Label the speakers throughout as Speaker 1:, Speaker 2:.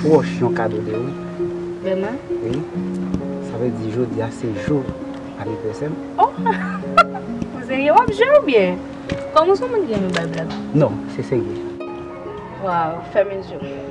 Speaker 1: Proche yon kado de ou. Vreman? Wi. Sa vle di jodi a se jou anivèsè m. Oh!
Speaker 2: Ou serye? Wap jwe ou byen? Kòm ou son moun ki renmen bay blag. Non, se serye.
Speaker 1: Waw,
Speaker 2: fèmen je w.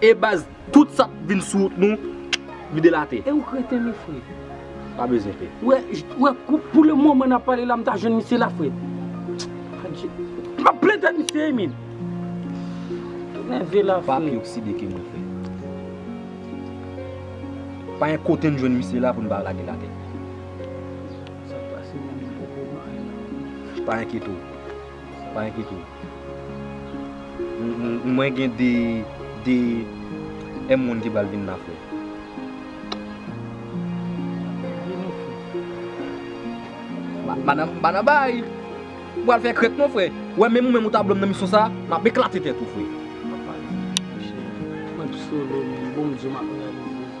Speaker 3: E baz tout
Speaker 4: sa k vin sou wout nou vide l ate. E ou kreten li fre.
Speaker 3: Pa bezwen pe.
Speaker 4: Ou wè
Speaker 3: pou le moman n ap pale la m ta jwenn misye la fre. Adje. M ap plen tèt misye wi min. Ou nève la fre. Pa pi okside ke mwen
Speaker 4: fre. Pa gen kote n jwenn misye la pou n pa lage l ate. Sa k pase la
Speaker 3: m poko wè anyen nan. Pa enkyete w.
Speaker 4: Pa enkyete w. Mwen gen 2 2 moun ki pral vin la frè. Madanm Banabay, ou pral fè krèk non frè. Ou wè menm ou menm ou ta blan m nan misyon sa, m ap eklate tèt ou frè.
Speaker 3: Mwen psolo men, bon Bdye m ap reyalize.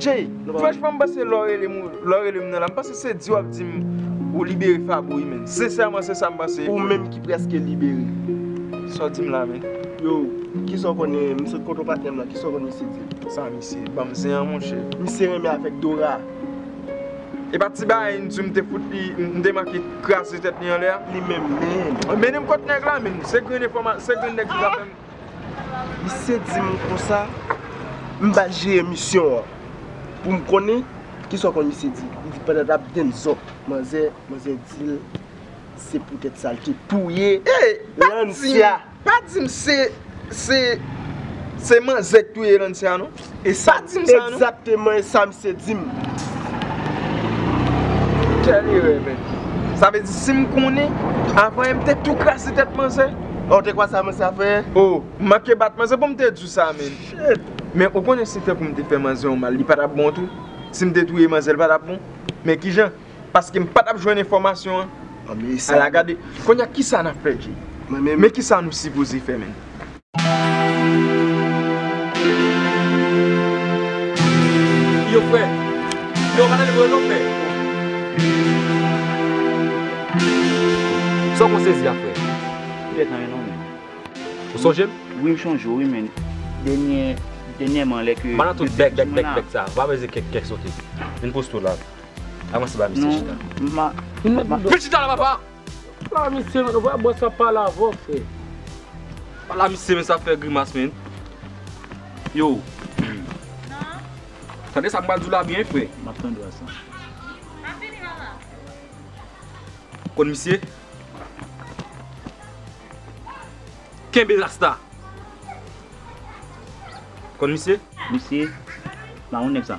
Speaker 5: Jay, franchman m panse lè w rele m lè w rele m nan la m panse se di w ap di m ou libere Fabo wi menn. Sensèman se sa m panse. Ou menm ki prèske
Speaker 6: libere. Sa w di
Speaker 5: m la menn? Yo, kisa
Speaker 6: w konnen, m sot kontre w patnè m la, kisa w konn misye di m? Sa misye ban m
Speaker 5: zen an monchè? Misye renmen avèk Dora. E pa ti bagay n di w m te fout li, m te manke kraze tèt li anlè a? Li menm menn.
Speaker 6: Mennen m kot nèg la
Speaker 5: menn. Se grenn enfòma, se grenn nèg ki ka fè m. Misye
Speaker 6: di m konsa, m bat je emisyon an pou m konnen ki sa w konn misye di. Li di pandan l ap gen zòt manzè, manzè di l se poutèt sa l te touye Lancia.
Speaker 5: Pa di m se manzè k touye Lancia non. E sa
Speaker 6: egzakteman
Speaker 5: e sa misye
Speaker 6: di m.
Speaker 5: Kèl erè men. Sa vle di si m konnen avan e m te tou krase tèt manzè. Ou te kwè sa manzè
Speaker 6: ap fè? Ou manke bat
Speaker 5: manzè pou m te di w sa men. Shit! Men ou konnen si te pou m te fè manzè yon mal li pa t ap bon tou? Si m te touye manzè li pa t ap bon? Men kijan? Paske m patap jwenn enfòmasyon an Ala
Speaker 6: gade Konya
Speaker 5: kisa nap fè Djee Mwen menm Men kisa nou sipoze fè menm.
Speaker 4: Yo fre Yo pa tande vre non fre Sa w konn sezi a fre Ou gen tan wi non
Speaker 7: menn Ou sonje
Speaker 4: m? Wi m sonje w wi
Speaker 7: menn Dènyèman lè ke Bannan tout bèk bèk bèk
Speaker 4: sa Ou pa peze kèk kèk sote Vin poste w la. Avanse ba misye chita. Non, ma. Vin met bouda.
Speaker 7: Vin chita
Speaker 4: la papa. Pala misye
Speaker 3: men, ou pa bwè sa pala avè w frè.
Speaker 4: Pala misye men sa fè grimas men. Yo. Nan. Tande sa m pral di w la byen frè. M ap tande a sa. M ap vini mama.
Speaker 7: Ou
Speaker 4: konn misye? Kenbe rasta.
Speaker 7: Ou
Speaker 4: konn misye? Misye?
Speaker 7: Ba yon nèg sa.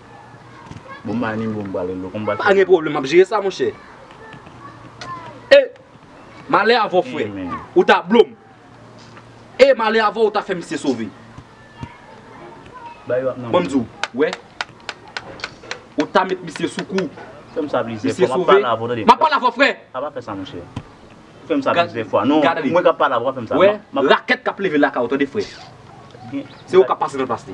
Speaker 7: Bon m bay nimewo m pral rele w konbati. Pa gen pwoblèm m ap jere sa
Speaker 4: monchè. E! Malè avè w frè. Ou ta blo m. E! Malè avè w ou ta fè misye sove.
Speaker 7: Bay yo ap nan Bon m di w ou wè.
Speaker 4: Ou ta met misye sou kou. Fè m sa plizyè fwa
Speaker 7: m ap pale avè w tande. M
Speaker 4: ap pale avè
Speaker 7: w frè. A pa
Speaker 4: fè sa monchè.
Speaker 7: Ou fè m sa plizyè fwa. Non mwen k ap pale avè w pa fè m sa. Wè rakèt k ap leve
Speaker 4: lakay ou tande frè. Se ou k ap pase nan plas li.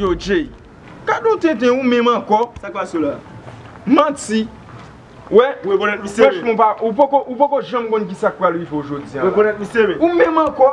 Speaker 5: Yo Jay, gad yon tenten ou menm ankò. Sak pase w la?
Speaker 6: Manti.
Speaker 5: Wè, wèch
Speaker 6: mon pa, ou
Speaker 5: poko janm konn ki sak pral rive w jodi an la. Ou
Speaker 6: menm ankò.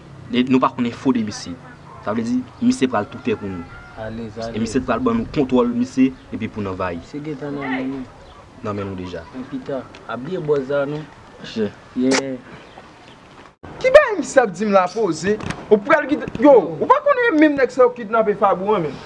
Speaker 4: Nou pa konn enfo de misye. Sa vle di misye pral toutè pou nou. E misye t
Speaker 3: pral ban nou
Speaker 4: kontwòl misye epi poun anvayi. Misye gentan nan men nou.
Speaker 3: Nan men nou
Speaker 4: deja. Nan pita. Ap gen
Speaker 3: bòz la non. Chè. Yeah.
Speaker 5: Ki bagay misye ap dim la poze. Ou pral kite. Yo. Ou pa konnen menm nèg sa yo kidnape Fabou an menm.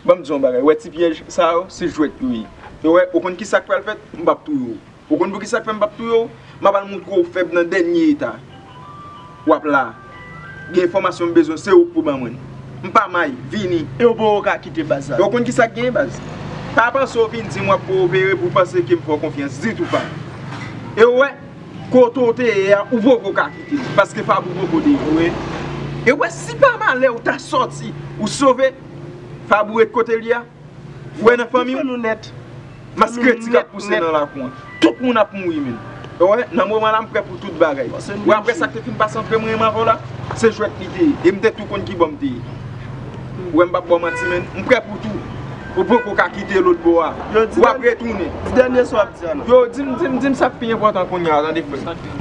Speaker 5: Banm diw yon bagay ou wè ti pyèj sa yo se jwèt yo ye ou wè ou konn kisak pral fèt m pap touye w ou konn poukisa k fè m pap touye w map al moutre w fèb nan dènye eta wap la gen enfòmasyon m bezwen se ou k pou ban mwen m pa may vini e w poko ka kite
Speaker 6: baz la e w konn kisak gen baz
Speaker 5: pa panse w vin dim wap kowopere pou w panse ke m fè w konfyans ditou pa e w wè kote w te ye a ou poko ka kite paske fab ou poko dejoure e w wè si pa malè ou ta sòti ou sove. Fabouret kote li a? Ou wè nan fanmi w?
Speaker 6: Maskreti k
Speaker 5: ap pouse nan lakou an. Tout moun ap mouri menn. Ou wè, nan moman la m prè pou tout bagay. Ou wè aprè sa k te fin pase antre mwen e Marco la? Se jwèt li te ye. E m te tou konn ki bò m te ye. Ou wè m p ap ba w manti menn. M prè pou tou. Ou poko ka kite lotbo a. Ou ap retounen. Di dènye sa w ap di a
Speaker 6: non. Yo, di m, di m, di m sa
Speaker 5: k pi enpòtan kounya a tande frè m.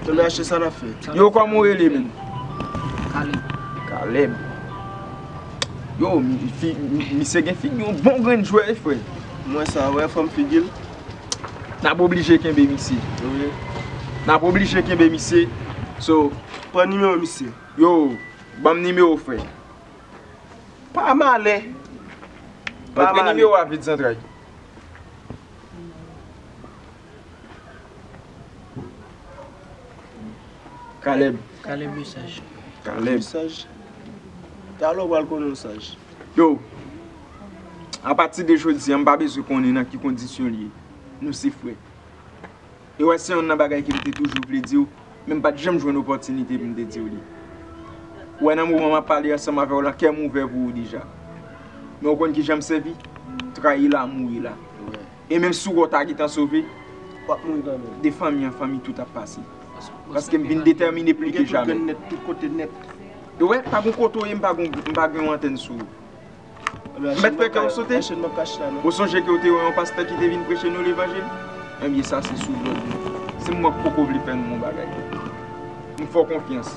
Speaker 6: Tony Ashe sa nap fè? Yo koman ou rele menm?
Speaker 5: Caleb Caleb Yo misye gen figi yon bon grenn jwè wi frè Mwen sa wè
Speaker 6: fòm figil
Speaker 5: Nap oblije kenbe misye
Speaker 6: Wi Nap
Speaker 5: oblije kenbe misye So Pran nimewo
Speaker 6: misye Yo
Speaker 5: Banm nimewo frè
Speaker 6: Pa malè Pa malè
Speaker 5: Montre nimewo a vit zantray. Caleb Caleb le saj
Speaker 3: Caleb le saj
Speaker 6: Talè w pral konnen w saj Yo
Speaker 5: A pati de jodi an m pa bezwen konnen nan ki kondisyon l ye Nou se frè E wè se yonn nan bagay ke m te toujou vle di w Men m pa t janm jwenn opòtinite pou m te di w li Ou wè nan moman m ap pale ansanm avè w la kè m ouvè pou ou deja Men ou konn kijan m sèvi Trayi la mouri la E menm si wou ta gentan sove, wap mouri kanmenm.
Speaker 6: De fanmi an fanmi
Speaker 5: tout ap pase. Paskem vin detèmine pli ke jamè. Ou gen pou gen nèt tout kote nèt.
Speaker 6: Ou wè, pa gon
Speaker 5: kote ou ye m pa gon m pa gen yon antèn sou ou. M mèt fè kè w sote. Ou sonje ke ou te wè yon pastè ki te vin preche nou levanjil? Ebyen sa se sou lòd mwen. Se mwen k poko vle fè nou yon bagay. M fè w konfyans.